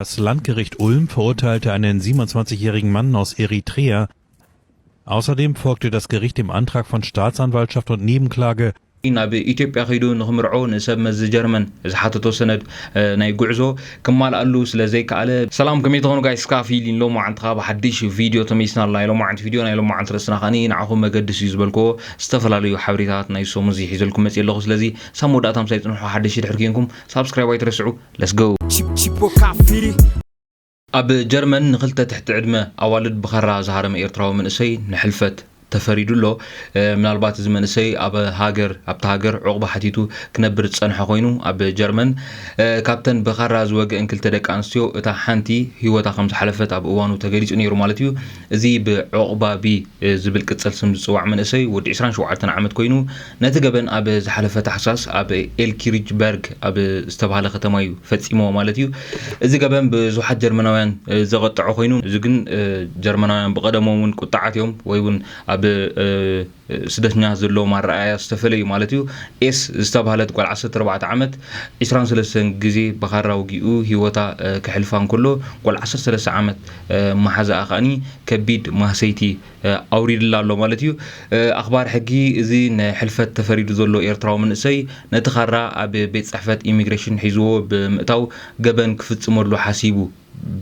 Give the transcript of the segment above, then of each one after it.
Das Landgericht Ulm verurteilte einen 27-jährigen Mann aus Eritrea. Außerdem folgte das Gericht dem Antrag von Staatsanwaltschaft und Nebenklage, ናብ ኢትዮጵያ ከይዱ ንክምርዖ ንሰብ መዚ ጀርመን ዝሓተቶ ሰነድ ናይ ጉዕዞ ክማልኣሉ ስለ ዘይከኣለ። ሰላም ከመይ ትኾኑ ጋይስ እስካ ፊሊን ሎማዓንቲ ካኣ ብሓድሽ ቪድዮ ተመሊስና ኣለና ናይ ሎማዓንቲ ቪድዮ ናይ ሎማዓንቲ ርእስና ካኣኒ ንዓኹም መገድስ እዩ ዝበልክዎ ዝተፈላለዩ ሓበሬታታት ናይ ሰሙን እዚ ሒዘልኩም መጽየ ኣለኹ ስለዚ ሳብ መወዳእታ ምሳይ ጽንሑ ሓደሽቲ ድሕሪ ኬንኩም ሳብስክራይብ ኣይትረስዑ Let's go! ኣብ ጀርመን ንክልተ ትሕቲ ዕድመ ኣዋልድ ብኸራ ዝሃረመ ኤርትራዊ መንእሰይ ንሕልፈት ተፈሪዱ ኣሎ ምናልባት እዚ መንእሰይ ኣብ ሃገር ኣብቲ ሃገር ዕቑባ ሓቲቱ ክነብር ዝፀንሐ ኮይኑ ኣብ ጀርመን ካብተን ብኻራ ዝወግአን ክልተ ደቂ ኣንስትዮ እታ ሓንቲ ሂወታ ከም ዝሓለፈት ኣብ እዋኑ ተገሊፁ ነይሩ ማለት እዩ እዚ ብዑቕባቢ ዝብል ቅጽል ስም ዝጽዋዕ መንእሰይ ወዲ ዕስራን ሸውዓተን ዓመት ኮይኑ፣ ነቲ ገበን ኣብ ዝሓለፈ ታሕሳስ ኣብ ኤልኪሪጅበርግ ኣብ ዝተባህለ ከተማ እዩ ፈጺምዎ ማለት እዩ። እዚ ገበን ብዙሓት ጀርመናውያን ዘቘጥዐ ኮይኑ፣ እዚ ግን ጀርመናውያን ብቐደሞም እውን ቍጥዓት እዮም ወይ እውን ኣብ ስደተኛታት ዘለዎም ኣረኣእያ ዝተፈለ እዩ ማለት እዩ። ኤስ ዝተብሃለት ጓል ዓሰርተ ኣርባዕተ ዓመት፣ ዕስራን ሰለስተን ግዜ ብኻራ ወጊኡ ህይወታ ከሕልፋ እንከሎ፣ ጓል ዓሰርተ ሰለስተ ዓመት መሓዛኣ ከኣ ከቢድ ማህሰይቲ ኣውሪድላ ኣሎ ማለት እዩ። ኣኽባር ሕጊ እዚ ንሕልፈት ተፈሪዱ ዘሎ ኤርትራዊ መንእሰይ፣ ነቲ ኻራ ኣብ ቤት ጽሕፈት ኢሚግሬሽን ሒዝዎ ብምእታው ገበን ክፍጽመሉ ሓሲቡ።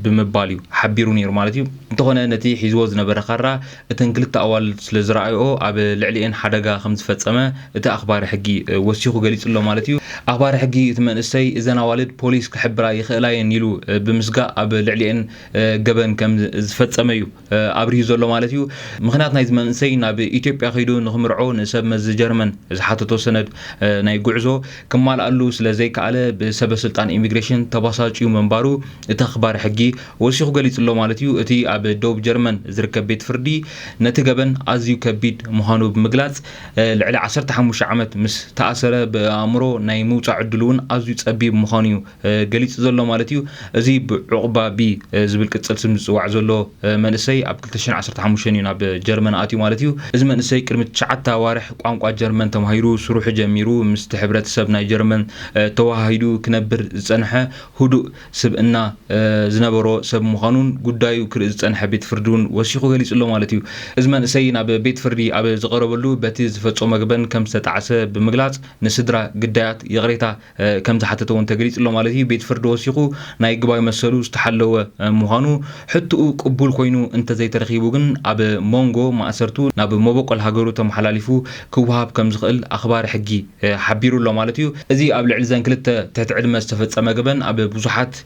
ብምባል እዩ ሓቢሩ ነይሩ ማለት እዩ። እንተኾነ ነቲ ሒዝዎ ዝነበረ ካራ እተን ክልተ ኣዋልድ ስለ ዝረኣይኦ ኣብ ልዕሊኤን ሓደጋ ከም ዝፈጸመ እቲ ኣኽባሪ ሕጊ ወሲኹ ገሊጹ ኣሎ ማለት እዩ። ኣኽባሪ ሕጊ እቲ መንእሰይ እዘን ኣዋልድ ፖሊስ ክሕብራ ይኽእላ እየን ኢሉ ብምስጋእ ኣብ ልዕሊኤን ገበን ከም ዝፈጸመ እዩ ኣብሪሁ ዘሎ ማለት እዩ። ምኽንያት ናይዚ መንእሰይ ናብ ኢትዮጵያ ከይዱ ንኽምርዖ ንሰብ መዚ ጀርመን ዝሓተቶ ሰነድ ናይ ጉዕዞ ክማልኣሉ ስለ ዘይከኣለ ብሰበ ስልጣን ኢሚግሬሽን ተባሳጭዩ ምንባሩ እቲ ኣኽባሪ ሕጊ ወሲኹ ገሊጹ'ሎ ማለት'ዩ። እቲ ኣብ ደቡብ ጀርመን ዝርከብ ቤት ፍርዲ ነቲ ገበን ኣዝዩ ከቢድ ምዃኑ ብምግላጽ ልዕሊ ዓሰርተ ሓሙሽተ ዓመት ምስ ተኣሰረ ብኣእምሮ ናይ ምውጻእ ዕድሉ'ውን ኣዝዩ ጸቢብ ምዃኑ'ዩ ገሊጹ ዘሎ ማለት እዩ። እዚ ብዑቕባ ቢ ዝብል ቅጽል ስም ዝጽዋዕ ዘሎ መንእሰይ ኣብ ክልተ ሽሕን ዓሰርተ ሓሙሽተን እዩ ናብ ጀርመን ኣትዩ ማለት እዩ። እዚ መንእሰይ ቅድሚ ትሽዓተ ኣዋርሕ ቋንቋ ጀርመን ተማሂሩ ስርሑ ጀሚሩ ምስቲ ሕብረተሰብ ናይ ጀርመን ተወሃሂዱ ክነብር ዝጸንሐ ህዱእ ስብእና ዝነበሮ ሰብ ምዃኑን ጉዳዩ ክርኢ ዝጸንሐ ቤት ፍርዲ እውን ወሲኹ ገሊጹ ኣሎ ማለት እዩ። እዚ መንእሰይ ናብ ቤት ፍርዲ ኣብ ዝቐረበሉ በቲ ዝፈጸሞ ገበን ከም ዝተጣዕሰ ብምግላጽ ንስድራ ግዳያት ይቕሬታ ከምዝሓተተ'ውን ተገሊጹ'ሎ ማለት እዩ። ቤት ፍርዲ ወሲኹ ናይ ግባዊ መሰሉ ዝተሓለወ ምዃኑ ሕትኡ ቅቡል ኮይኑ እንተዘይተረኺቡ ግን ኣብ ሞንጎ ማእሰርቱ ናብ መቦቆል ሃገሩ ተመሓላሊፉ ክወሃብ ከምዝኽእል ኣኽባሪ ሕጊ ሓቢሩ'ሎ ማለት እዩ። እዚ ኣብ ልዕሊ'ዘን ክልተ ትሕቲ ዕድመ ዝተፈጸመ ገበን ኣብ ብዙሓት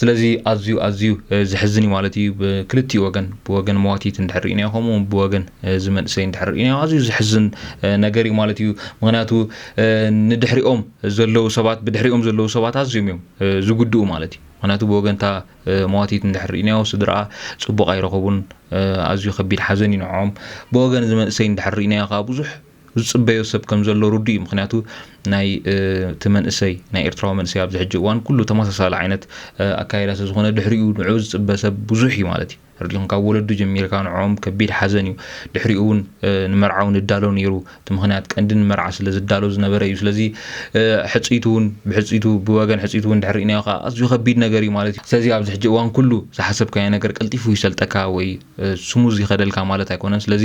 ስለዚ ኣዝዩ ኣዝዩ ዘሕዝን እዩ ማለት እዩ ብክልቲኡ ወገን ብወገን መዋቲት እንድሕር ርኢናዮ ከምኡ እውን ብወገን እዚ መንእሰይ እንድሕር ርኢናዮ ኣዝዩ ዘሕዝን ነገር እዩ ማለት እዩ ምክንያቱ ንድሕሪኦም ዘለዉ ሰባት ብድሕሪኦም ዘለዉ ሰባት ኣዝዮም እዮም ዝጉድኡ ማለት እዩ ምክንያቱ ብወገንታ መዋቲት እንድሕር ርኢናዮ ስድርኣ ፅቡቕ ኣይረኸቡን ኣዝዩ ከቢድ ሓዘን እዩ ንዕኦም ብወገን እዚ መንእሰይ እንድሕር ርኢናዮ ከዓ ብዙሕ ዝጽበዮ ሰብ ከም ዘሎ ርዱእ እዩ ምኽንያቱ ናይ እቲ መንእሰይ ናይ ኤርትራዊ መንእሰይ ኣብዚ ሕጂ እዋን ኩሉ ተመሳሳሊ ዓይነት ኣካይዳ ስለ ዝኾነ ድሕሪኡ ንዕኡ ዝጽበ ሰብ ብዙሕ እዩ ማለት እዩ ረዲኹም ካብ ወለዱ ጀሚርካ ንዕኦም ከቢድ ሓዘን እዩ ድሕሪኡ እውን ንመርዓው ንዳሎ ነይሩ እቲ ምኽንያት ቀንዲ ንመርዓ ስለ ዝዳሎ ዝነበረ እዩ ስለዚ ሕጽይቱ እውን ብሕጽይቱ ብወገን ሕጽይቱ እውን ድሕሪ ርእናዮ ከዓ ኣዝዩ ከቢድ ነገር እዩ ማለት እዩ ስለዚ ኣብዚ ሕጂ እዋን ኩሉ ዝሓሰብካዮ ነገር ቀልጢፉ ይሰልጠካ ወይ ስሙዝ ይኸደልካ ማለት ኣይኮነን ስለዚ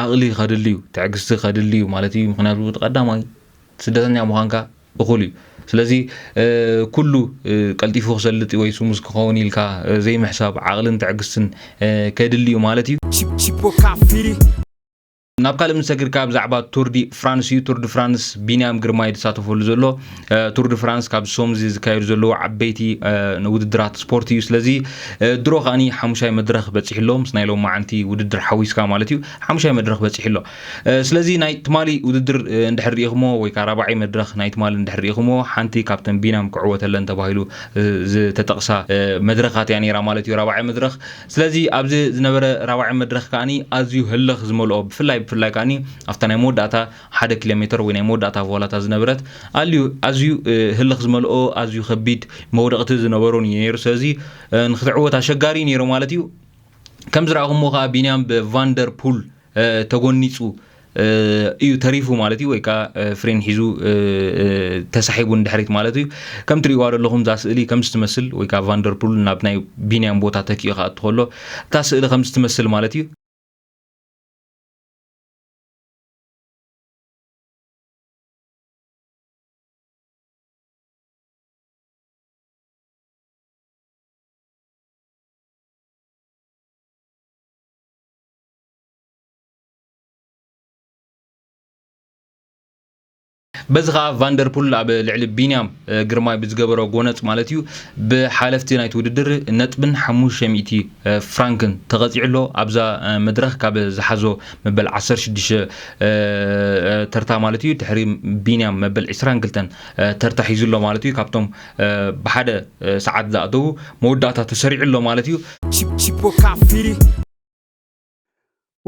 ዓቕሊ ከድሊ እዩ ትዕግስቲ ከድሊ እዩ ማለት እዩ ምክንያቱ እቲ ቀዳማይ ስደተኛ ምዃንካ እኹል እዩ ስለዚ ኩሉ ቀልጢፉ ክሰልጥ ወይ ስሙዝ ክኸውን ኢልካ ዘይምሕሳብ ዓቕልን ትዕግስትን ከድሊ እዩ ማለት እዩ ናብ ካልእ ምሰግር ካብ ዛዕባ ቱርዲ ፍራንስ እዩ ቱርዲ ፍራንስ ቢንያም ግርማ እዩ ዝሳተፈሉ ዘሎ ቱርዲ ፍራንስ ካብ ሶምዚ ዝካየዱ ዘለዉ ዓበይቲ ውድድራት ስፖርት እዩ ስለዚ ድሮ ከዓኒ ሓሙሻይ መድረኽ በፂሑ ኣሎ ምስ ናይ ሎም መዓንቲ ውድድር ሓዊስካ ማለት እዩ ሓሙሻይ መድረኽ በፂሑ ኣሎ ስለዚ ናይ ትማሊ ውድድር እንድሕር ሪኢኹሞ ወይ ከዓ ራብዓይ መድረኽ ናይ ትማሊ እንድሕር ሪኢኹሞ ሓንቲ ካብተን ቢንያም ክዕወተለን ተባሂሉ ዝተጠቕሳ መድረኻት እያ ነይራ ማለት እዩ ራብዓይ መድረኽ ስለዚ ኣብዚ ዝነበረ ራባዒ መድረኽ ከኣ ኣዝዩ ህልኽ ዝመልኦ ብፍላይ ብፍላይ ከኣ ኣብታ ናይ መወዳእታ ሓደ ኪሎ ሜተር ወይ ናይ መወዳእታ ቮላታ ዝነበረት ኣልዩ ኣዝዩ ህልኽ ዝመልኦ ኣዝዩ ከቢድ መውደቕቲ ዝነበሮን እዩ ነይሩ ስለዚ ንክትዕወት ኣሸጋሪ እዩ ነይሩ ማለት እዩ ከም ዝረኣኹምዎ ከኣ ቢንያም ብቫንደር ፑል ተጎኒጹ እዩ ተሪፉ ማለት እዩ ወይ ከዓ ፍሬን ሒዙ ተሳሒቡ ንድሕሪት ማለት እዩ ከም ትሪእዋ ዘለኹም እዛ ስእሊ ከም ዝትመስል ወይ ከዓ ቫንደርፑል ናብ ናይ ቢንያም ቦታ ተኪኡ ክኣቱ ከሎ እታ ስእሊ ከም ዝትመስል ማለት እዩ በዚ ከዓ ቫንደርፑል ኣብ ልዕሊ ቢንያም ግርማይ ብዝገበሮ ጎነፅ ማለት እዩ ብሓለፍቲ ናይቲ ውድድር ነጥብን 500 ፍራንክን ተቐፂዑ ኣሎ ኣብዛ መድረኽ ካብ ዝሓዞ መበል 16 ተርታ ማለት እዩ ድሕሪ ቢንያም መበል 22 ተርታ ሒዙ ኣሎ ማለት እዩ ካብቶም ብሓደ ሰዓት ዝኣተዉ መወዳእታ ተሰሪዑ ኣሎ ማለት እዩ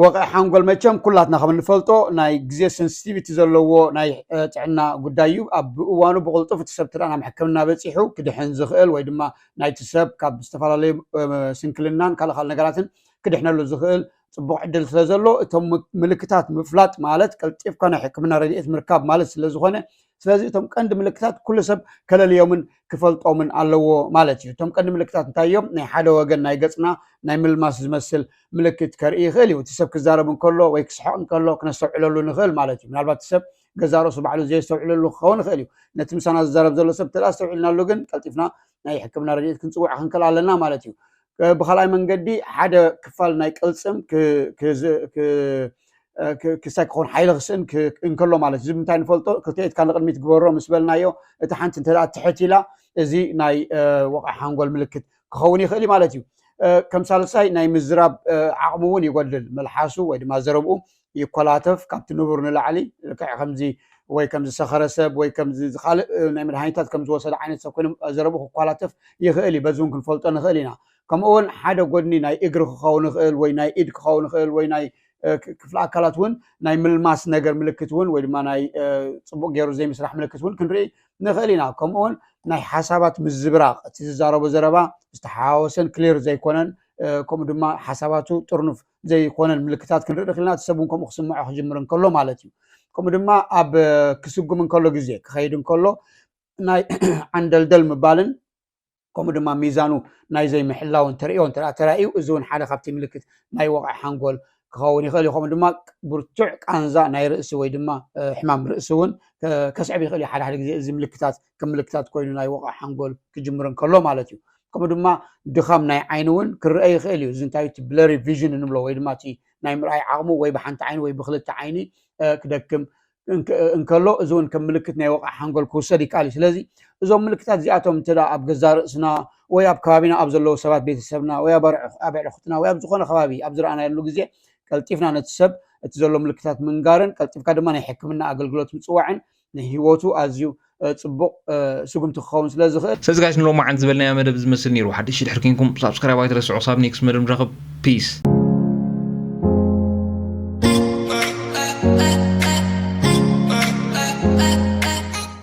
ወቕዒ ሓንጎል መቸም ኩላትና ከም እንፈልጦ ናይ ግዜ ሰንስቲቪቲ ዘለዎ ናይ ጥዕና ጉዳይ እዩ ኣብ እዋኑ ብቕልጡፍ እቲ ሰብ ተደኣ ናብ ሕክምና በፂሑ ክድሕን ዝኽእል ወይ ድማ ናይቲ ሰብ ካብ ዝተፈላለዩ ስንክልናን ካልእ ካልእ ነገራትን ክድሕነሉ ዝኽእል ፅቡቕ ዕድል ስለ ዘሎ እቶም ምልክታት ምፍላጥ ማለት ቀልጢፍካ ናይ ሕክምና ረድኤት ምርካብ ማለት ስለ ዝኾነ ስለዚ እቶም ቀንዲ ምልክታት ኩሉ ሰብ ከለልዮምን ክፈልጦምን ኣለዎ ማለት እዩ እቶም ቀንዲ ምልክታት እንታይ እዮም ናይ ሓደ ወገን ናይ ገፅና ናይ ምልማስ ዝመስል ምልክት ከርኢ ይኽእል እዩ እቲ ሰብ ክዛረብ እንከሎ ወይ ክስሕቕ እንከሎ ክነስተውዕለሉ ንኽእል ማለት እዩ ምናልባት እቲ ሰብ ገዛ ርእሱ ባዕሉ ዘየስተውዕለሉ ክኸውን ይኽእል እዩ ነቲ ምሳና ዝዛረብ ዘሎ ሰብ እንተ ኣስተውዒልናሉ ግን ቀልጢፍና ናይ ሕክምና ረድኤት ክንፅውዕ ክንክእል ኣለና ማለት እዩ ብካልኣይ መንገዲ ሓደ ክፋል ናይ ቅልፅም ክሳይ ክኾን ሓይሊ ክስእን እንከሎ ማለት እዚ ምንታይ ንፈልጦ ክልተ ኢድካ ንቅድሚት ግበሮ ምስ በልናዮ እቲ ሓንቲ እንተ ትሕት ኢላ እዚ ናይ ወቕዒ ሓንጎል ምልክት ክኸውን ይኽእል እዩ ማለት እዩ ከም ሳልሳይ ናይ ምዝራብ ዓቕሙ እውን ይጎድል መልሓሱ ወይ ድማ ዘረብኡ ይኮላተፍ ካብቲ ንቡር ንላዕሊ ልክዕ ከምዚ ወይ ከም ዝሰኸረ ሰብ ወይ ከም ካልእ ናይ መድሃኒታት ከም ዝወሰደ ዓይነት ሰብ ኮይኖም ዘረብኡ ክኳላተፍ ይኽእል እዩ በዚ እውን ክንፈልጦ ንኽእል ኢና ከምኡ እውን ሓደ ጎድኒ ናይ እግሪ ክኸውን ይኽእል ወይ ናይ ኢድ ክኸውን ይኽእል ወይ ናይ ክፍሊ ኣካላት እውን ናይ ምልማስ ነገር ምልክት እውን ወይ ድማ ናይ ፅቡቅ ገይሩ ዘይምስራሕ ምልክት እውን ክንርኢ ንኽእል ኢና ከምኡ እውን ናይ ሓሳባት ምዝብራቕ እቲ ዝዛረቦ ዘረባ ዝተሓዋወሰን ክሊር ዘይኮነን ከምኡ ድማ ሓሳባቱ ጥርኑፍ ዘይኮነን ምልክታት ክንርኢ ንኽእል ኢና። እቲ ሰብ እውን ከምኡ ክስምዖ ክጅምር እንከሎ ማለት እዩ። ከምኡ ድማ ኣብ ክስጉም እንከሎ ግዜ ክኸይድ እንከሎ ናይ ዓንደልደል ምባልን ከምኡ ድማ ሚዛኑ ናይ ዘይምሕላውን ተርእዮ እንተ ተራእዩ እዚ እውን ሓደ ካብቲ ምልክት ናይ ወቕዒ ሓንጎል ክኸውን ይኽእል እዩ ከምኡ ድማ ብርቱዕ ቃንዛ ናይ ርእሲ ወይ ድማ ሕማም ርእሲ እውን ከስዕብ ይኽእል እዩ ሓደ ሓደ ግዜ እዚ ምልክታት ከም ምልክታት ኮይኑ ናይ ወቕዒ ሓንጎል ክጅምር እንከሎ ማለት እዩ ከምኡ ድማ ድኻም ናይ ዓይኒ እውን ክርአ ይኽእል እዩ እዚ እንታይ እቲ ብለሪ ቪዥን እንብሎ ወይ ድማ እቲ ናይ ምርኣይ ዓቕሙ ወይ ብሓንቲ ዓይኒ ወይ ብክልተ ዓይኒ ክደክም እንከሎ እዚ እውን ከም ምልክት ናይ ወቕዓ ሓንጎል ክውሰድ ይከኣል እዩ ስለዚ እዞም ምልክታት እዚኣቶም እንተ ኣብ ገዛ ርእስና ወይ ኣብ ከባቢና ኣብ ዘለዉ ሰባት ቤተሰብና ወይ ኣብ ኣዕርኹትና ወይ ኣብ ዝኾነ ከባቢ ኣብ ዝረኣናየሉ ግዜ ቀልጢፍና ነቲ ሰብ እቲ ዘሎ ምልክታት ምንጋርን ቀልጢፍካ ድማ ናይ ሕክምና ኣገልግሎት ምፅዋዕን ንህይወቱ ኣዝዩ ጽቡቕ ስጉምቲ ክኸውን ስለ ዝኽእል። ስለዚ ጋይስ ንሎማዓንቲ ዝበልናዮ መደብ ዝመስል ነይሩ ሓደሽቲ ድሕር ኬንኩም ሳብስክራይብ ኣይትረስዑ ክሳብ ኔክስት መደብ ንራኸብ ፒስ